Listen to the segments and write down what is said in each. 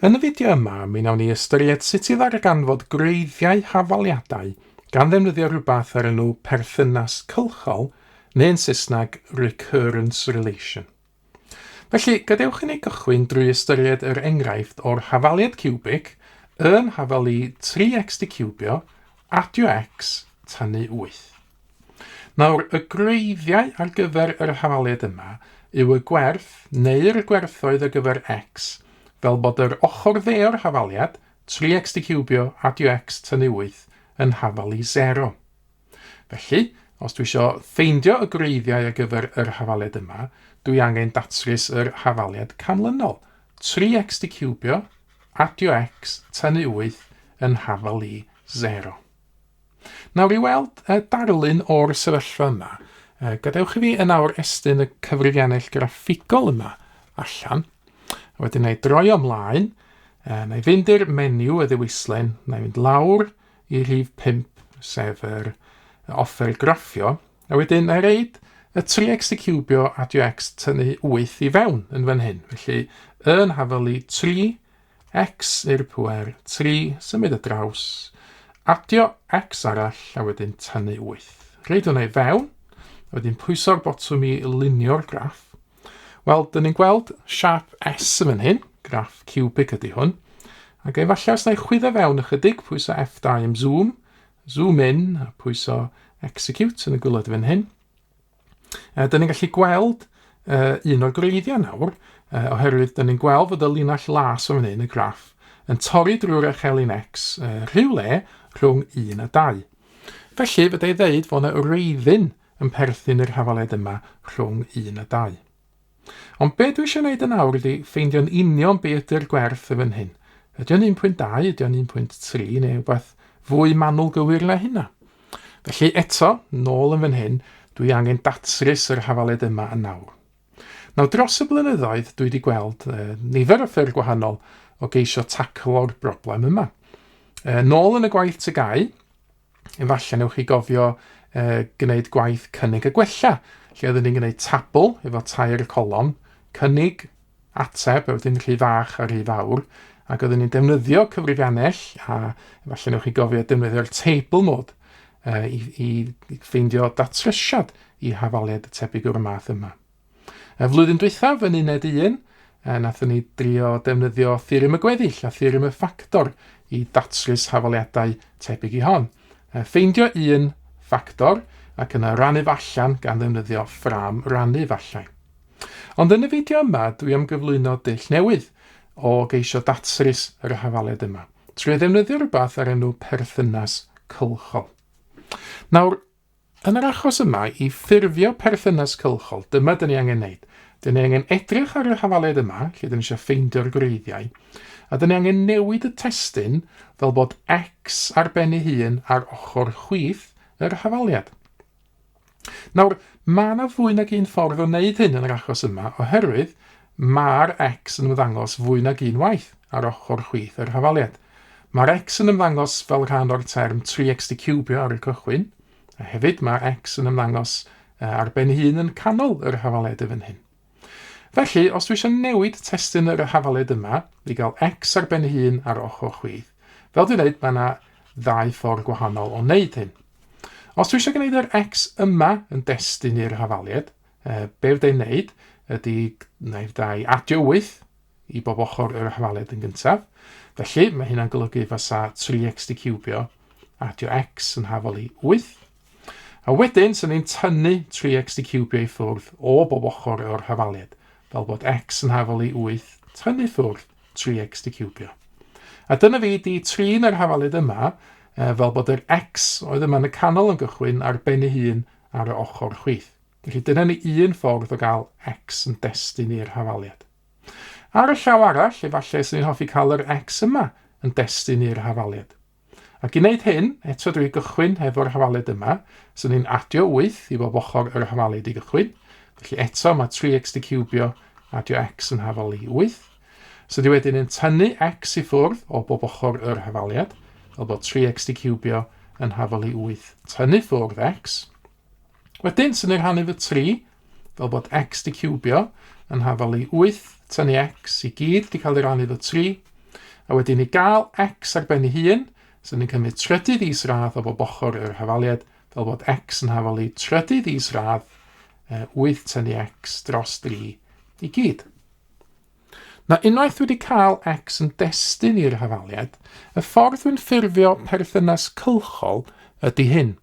Yn y fideo yma, mi wnawn ni ystyried sut i ddarganfod gwreiddiau hafaliadau gan ddefnyddio rhywbeth o'r enw perthynas cylchol, neu'n Saesneg recurrence relation. Felly, gadewch i ni gychwyn drwy ystyried yr enghraifft o'r hafaliad ciwbig yn hafelu 3x dicciwbio, adio x, tynnu 8. Nawr, y gwreiddiau ar gyfer yr hafaliad yma yw y gwerth neu'r gwerthoedd ar gyfer x, fel bod yr ochr dde o'r hafaliad, 3x diciwbio adio x tynnu 8, yn hafal i 0. Felly, os dwi isio ffeindio y gwreiddiau ar gyfer yr hafaliad yma, dwi angen datrys yr hafaliad canlynol, 3x diciwbio adio x tynnu 8 yn hafal i 0. Nawr i weld y darlun o'r sefyllfa yma, gadewch i fi yn awr estyn y cyfrifiannell graffigol yma allan, a wedyn na i droi o mlaen, na i fynd i'r menu y ddewislen, na i fynd lawr i rhif 5, sef yr offer graffio, a wedyn na i reid y 3x y cubio adio x tynnu 8 i fewn yn fan hyn. Felly yn hafelu 3 X i'r pŵer 3, symud y draws, adio X arall a wedyn tynnu 8. Rhaid hwnna i fewn, a wedyn pwyso'r botwm i lunio'r graff. Wel, dyn ni'n gweld siap S yn fan hyn, graff cubic ydy hwn, ac efallai os na i chwyddo fewn ychydig, pwyso F2 am zoom, zoom in a pwyso execute yn y gwylod fan hyn. Uh, da ni'n gallu gweld uh, un o'r gwreiddiau nawr, uh, oherwydd da ni'n gweld fod y linell las o'n hyn, y graff, yn torri drwy'r echelin X uh, rhywle rhwng 1 a 2. Felly, fydda i ddeud fod yna wreiddyn yn perthyn i'r hafaled yma rhwng 1 a 2. Ond be dwi eisiau wneud yn awr ydi ffeindio'n union be ydy'r gwerth y fan hyn. Ydy o'n 1.2, ydy o'n 1.3 neu rhywbeth fwy manwl gywir na hynna? Felly eto, nôl yn fan hyn, dwi angen datrys yr hafaled yma yn nawr. Nawr dros y blynyddoedd dwi wedi gweld e, nifer o ffyrdd gwahanol o geisio taclo'r broblem yma. E, nôl yn y gwaith tygau, Efallai newch chi gofio uh, gwneud gwaith cynnig a gwella, lle oeddwn ni'n gwneud tabl efo tair y colon, cynnig, ateb, a wedyn rhy fach a rhy fawr, ac oeddwn ni'n defnyddio cyfrifiannell, a efallai newch chi gofio defnyddio'r table mode uh, i, i ffeindio datrysiad i hafaliad y tebyg o'r math yma. Y flwyddyn dwythaf yn uned un, e, nathon ni drio defnyddio theorem y gweddill a theorem y ffactor i ddatrys hafaliadau tebyg i hon. E, ffeindio un ffactor ac yna rannu allan gan ddefnyddio ffram rannu fallau. Ond yn y fideo yma, dwi am gyflwyno dull newydd o geisio datrys yr hafaliad yma, trwy ddefnyddio rhywbeth ar enw perthynas cylchol. Nawr, Yn yr achos yma, i ffurfio perthynas cylchol, dyma dyn ni angen wneud. Dyn ni angen edrych ar yr hafaliad yma, lle dyn ni eisiau ffeindio'r gwreiddiau, a dyn ni angen newid y testun fel bod x ar ben ei hun ar ochr chwith yr hafaliad. Nawr, mae yna fwy nag un ffordd o wneud hyn yn yr achos yma, oherwydd mae'r x yn ymddangos fwy nag un waith ar ochr chwith yr hafaliad. Mae'r x yn ymddangos fel rhan o'r term 3x dicubio ar y cychwyn, a hefyd mae'r x yn ymddangos ar ben ei hun yn canol yr hafaled y fan hyn. Felly, os dwi eisiau newid testyn yr hafaled yma i gael x ar ben ei hun ar ochr chwith, fel dwi'n dweud, mae yna ddau ffordd gwahanol o wneud hyn. Os dwi eisiau gwneud yr x yma yn destun i'r hafaliad, e, be fydda i'n wneud ydy, na i fydda i adio 8, i bob ochr yr arholiad yn gyntaf. Felly, mae hynna'n golygu fasa tri x di cubio, adio x yn hafol i 8. A wedyn, sy'n ni'n tynnu 3x di cubio i ffwrdd o bob ochr o'r hafaliad, fel bod x yn hafol i 8 tynnu ffwrdd 3x di cubio. A dyna fi di trin yr hafaliad yma, e, fel bod yr x oedd yma yn y canol yn gychwyn ar ben ei hun ar y ochr chwith. Felly dyna ni un ffordd o gael X yn destun i'r hafaliad. Ar y llaw arall, efallai sy'n ni'n hoffi cael yr X yma yn destun i'r hafaliad. Ac i wneud hyn, eto drwy gychwyn hefo'r hafaliad yma, sy'n ni'n adio 8 i bob ochr yr hafaliad i gychwyn. Felly eto mae 3x di ciwbio, adio x yn hafal i 8. So di wedyn yn tynnu x i ffwrdd o bob ochr yr hafaliad, fel bod 3x di ciwbio yn hafal i 8 tynnu ffwrdd x. Wedyn, sy'n ei rhannu fy 3, fel bod x di cubio, yn hafal i 8, tan i x i gyd di cael ei rannu fy 3, a wedyn i gael x ar ben ei hun, sy'n yn cymryd trydydd is radd o bob ochr yr hafaliad, fel bod x yn hafal i trydydd is radd 8 tan i x dros 3 i gyd. Na unwaith wedi cael X yn destun i'r hafaliad, y ffordd dwi'n ffurfio perthynas cylchol ydy hyn.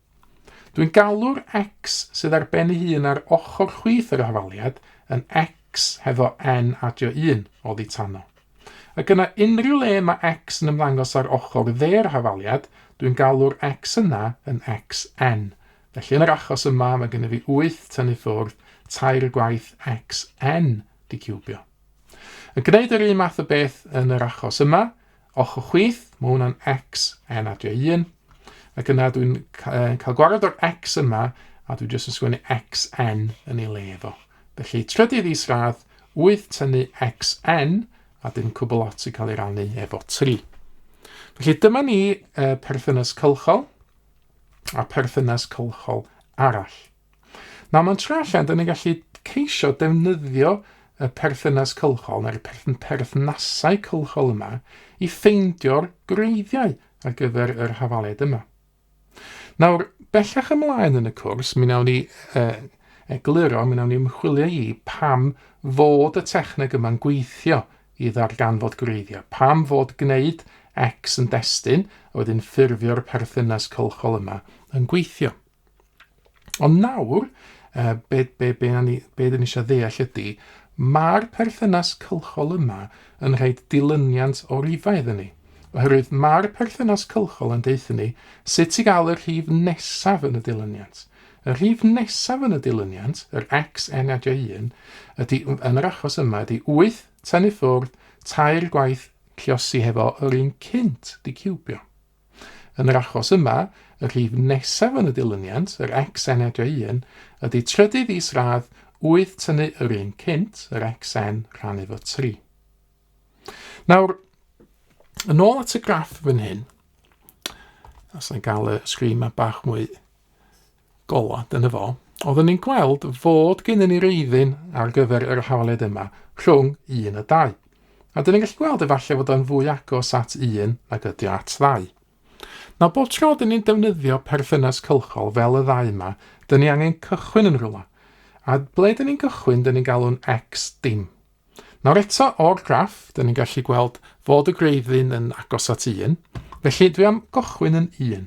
Dwi'n galw'r X sydd ar ben ei hun ar ochr chwith yr hafaliad yn X hefo N adio 1, oddi tano. Ac yna unrhyw le mae X yn ymddangos ar ochr dde'r hafaliad, dwi'n galw'r X yna yn XN. Felly yn yr achos yma mae gennym fi 8 tynnu ffwrdd tair y gwaith XN di ciwbio. Yn gwneud yr un math o beth yn yr achos yma, Ochr chwith, mae hwnna'n X, N a J un. Ac yna dwi'n cael gwared o'r X yma, a dwi jyst yn sgwennu XN yn ei le efo. Felly, trydydd is radd, 8 tynnu XN, a dim cwbl lot i cael ei rannu efo 3. Felly dyma ni uh, perthynas cylchol a perthynas cylchol arall. Nawr mae'n trwy allan, dyn ni'n gallu ceisio defnyddio y perthynas cylchol neu'r perthnasau cylchol yma i ffeindio'r gwreiddiau ar gyfer yr hafaliad yma. Nawr, bellach ymlaen yn y cwrs, mi wnawn ni uh, egluro, mi wnawn ni ymchwilio i pam fod y techneg yma'n gweithio i ddarganfod gwreiddiau, pam fod gwneud X yn destun a wedyn ffurfio'r perthynas cylchol yma yn gweithio. Ond nawr, uh, be, be, be, ni, be dyn ni eisiau ddeall ydy, mae'r perthynas cylchol yma yn rhaid dilyniant o rifau iddyn ni. Oherwydd mae'r perthynas cylchol yn deuthyn ni sut i gael y rhif nesaf yn y dilyniant. Y rhif nesaf yn y dilyniant, yr x n adio 1, ydy, yn yr achos yma, ydy 8 tan i ffwrdd tair gwaith ciosi hefo yr un cynt di ciwbio. Yn yr achos yma, y rhif nesaf yn y dilyniant, yr XNEJ1, ydy trydydd is-radd wyth tynnu yr un cynt, yr XN, rhan efo 3. Nawr, yn ôl at y graff fan hyn, os na gael y sgrin ma bach mwy Gola, dyna fo. Oeddwn i'n gweld fod gennym ni reiddyn ar gyfer yr hafaliad yma, rhwng un a dau. A dyn ni'n gallu gweld efallai fod o'n fwy agos at un nag ydy o at ddau. Na bob tro dyn ni'n defnyddio perthynas cylchol fel y ddau yma, dyn ni angen cychwyn yn rhywle. A ble dyn ni'n cychwyn, dyn ni'n galw'n X dim. Nawr eto o'r graff, dyn ni'n gallu gweld fod y greiddyn yn agos at 1, felly dwi am gychwyn yn 1.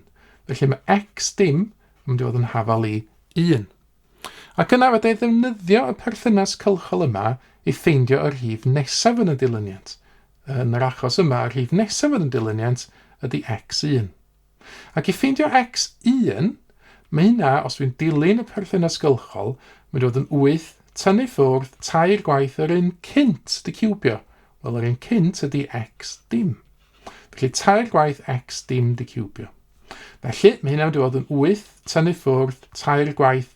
Felly mae x dim yn mynd i fod yn hafal i 1. Ac yna fydda i ddefnyddio y perthynas cylchol yma i ffeindio y rhif nesaf yn y dilyniant. Yn yr achos yma, y rhif nesaf yn y dilyniant ydy x1. Ac i ffeindio X1, mae hynna, os dwi'n dilyn y perthynas gylchol, mynd i fod yn 8 tynnu ffwrdd tair gwaith yr un cynt, dy ciwbio. Wel, yr un cynt ydy X dim. Felly tair gwaith X dim dy ciwbio. Felly, mae hynna'n mynd i fod yn 8 tynnu ffwrdd tair gwaith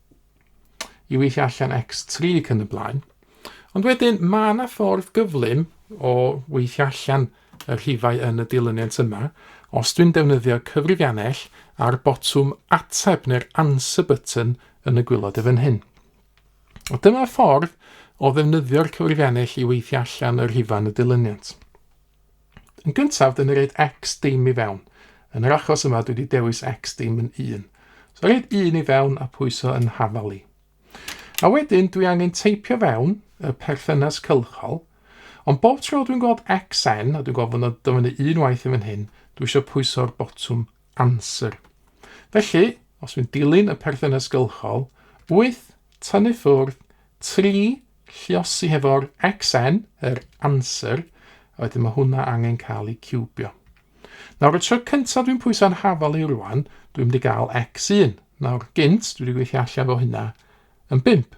i weithio allan X3 ac yn y blaen. Ond wedyn mae yna ffordd gyflym o weithio allan y rhifau yn y dilyniant yma. Os dwi'n defnyddio cyfrifiannell a'r botwm ateb neu'r answer button yn y gwylod y fan hyn. O dyma ffordd o ddefnyddio'r cyfrifiannell i weithio allan y rhifau yn y dilyniant. Yn gyntaf, dyn ni reid X dim i fewn. Yn yr achos yma, dwi wedi dewis X dim yn 1. So reid 1 i fewn a pwyso yn hafal i. A wedyn, dwi angen teipio fewn y perthynas cylchol, ond bob tro dwi'n gweld XN, a dwi'n gweld fod yna dyfynnu un waith yn fan hyn, dwi eisiau pwyso'r botwm Answer. Felly, os fi'n dilyn y perthynas gylchol, 8 tynnu ffwrdd 3 lliosi hefo'r xn, yr answer, a wedyn mae hwnna angen cael ei ciwbio. Nawr, y tro cyntaf dwi'n pwyso'n hafal i rwan, dwi'n mynd i gael x1. Nawr, gynt, dwi wedi gweithio allan fo hynna yn 5.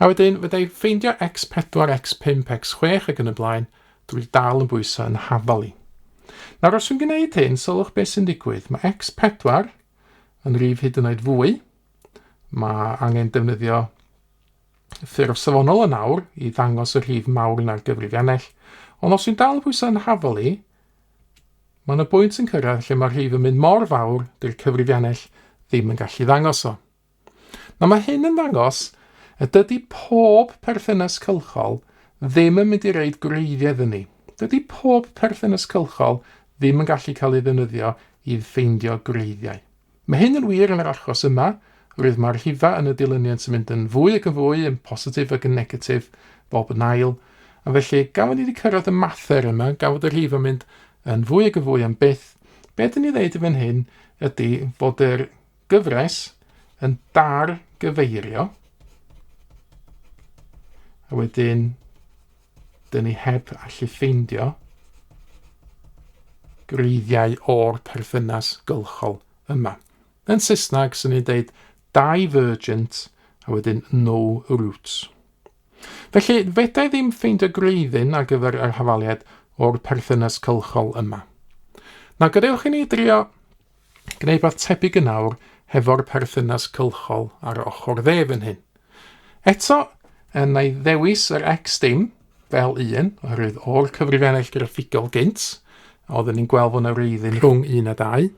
A wedyn, fydda i ffeindio X4, X5, X6 ac yn y blaen, dwi dal yn bwyso yn hafal i. Nawr os dwi'n gwneud hyn, sylwch beth sy'n digwydd. Mae X4 yn rif hyd yn oed fwy. Mae angen defnyddio ffurf safonol yn awr i ddangos y rhif mawr na'r gyfrifiannell, ond os dwi'n dal yn pwysau yn hafol i, mae yna bwynt yn cyrraedd lle mae'r rhif yn mynd mor fawr dy'r cyfrifiannell ddim yn gallu ddangos o. Nawr mae hyn yn ddangos y dydy pob perthynas cylchol ddim yn mynd i reid gwreiddiau iddyn ni. Dydy pob perthynas cylchol ddim yn gallu cael ei ddefnyddio i ffeindio gwreiddiau. Mae hyn yn wir yn yr achos yma, roedd mae'r rhifau yn y dilyniant yn mynd yn fwy ac yn fwy yn positif ac yn negatif bob yn ail, a felly gafon ni wedi cyrraedd y mather yma, gafod y rhif yn mynd yn fwy ac yn fwy am byth. Be dyn ni ddeud i fan hyn ydy fod yr Gyfres yn dar gyfeirio. A wedyn, dyn ni heb allu ffeindio greiddiau o'r perthynas gylchol yma. Yn Saesneg, sy'n ni'n deud divergent a wedyn no roots. Felly, fedra i ddim ffeindio greiddyn ar gyfer yr hafaliad o'r perthynas cylchol yma. Na gadewch i ni drio Gwneud rhywbeth tebyg yn awr hefo'r perthynas cylchol ar y ochr dde fan hyn. Eto, yn ei ddewis yr X dim fel un, oherwydd o'r cyfrifennill graffigol gynt, oeddwn ni'n gweld fod yna reiddyn rhwng un a dau.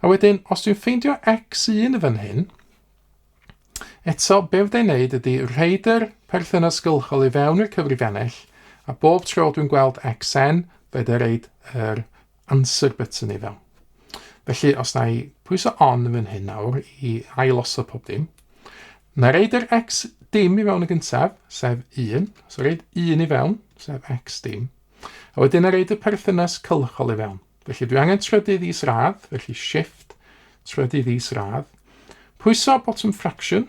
A wedyn, os dwi'n ffeindio X1 fan hyn, Eto, be fydda i'n neud ydy rhaid yr perthynas gylchol i fewn i'r cyfrifennill, a bob tro dwi'n gweld xn, fe da reid yr Answer button i fewn. Felly os na i pwyso on yn fan hyn nawr i ailosod pob dim, na reid yr x dim i fewn y gyntaf, sef 1, so reid 1 i fewn, sef x dim, a wedyn na reid y perthynas cylchol i fewn. Felly dwi angen trydydd is radd, felly shift, trydydd is radd. Pwyso bottom fraction,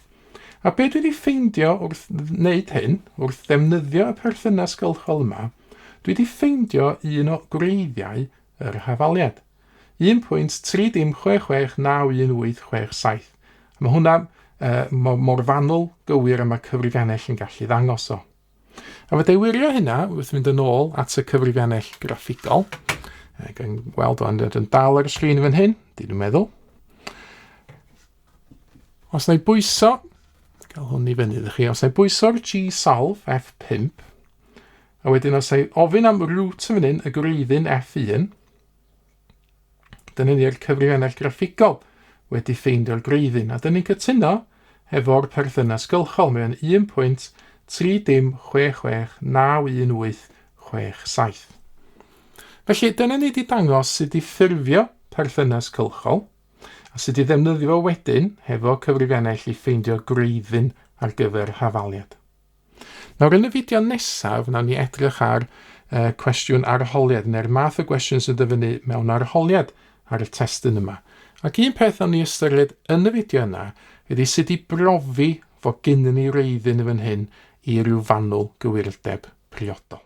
A be dwi 'di ffeindio wrth wneud hyn, wrth ddefnyddio y perthynas gylchol yma, dwi 'di ffeindio un o gwreiddiau yr hafaliad. 1.306691867. Mae hwnna uh, mor fanwl gywir a mae cyfrifiannell yn gallu ddangos o. A fe dewirio hynna wrth fynd yn ôl at y cyfrifiannell graffigol. Ac yn gweld o'n dod yn dal ar y sgrin fan hyn, dyn nhw'n meddwl. Os na i bwyso, gael hwn i fyny ddech chi, os na i bwyso'r G-Solve F5, a wedyn os na i ofyn am root yn fan hyn, y gwreiddyn F1, Dyna ni'r cyfrifennau graffigol wedi ffeindio'r gwreiddyn, a dyn ni'n cytuno hefo'r perthynas gylchol. Mae o'n 1.306691867. Felly, dyna ni wedi dangos sut i ffurfio perthynas cylchol, a sut i ddefnyddio fo wedyn hefo cyfrifennell i ffeindio gwreiddyn ar gyfer hafaliad. Nawr yn y fideo nesaf, wnawn ni edrych ar uh, cwestiwn arholiad, neu'r math o gwestiwn sy'n dyfynnu mewn arholiad ar y testyn yma. Ac un peth wnawn ni ystyried yn y fideo yna ydy sut i brofi fod gynnu ni reiddyn yn fan hyn i ryw fanwl gywirdeb priodol.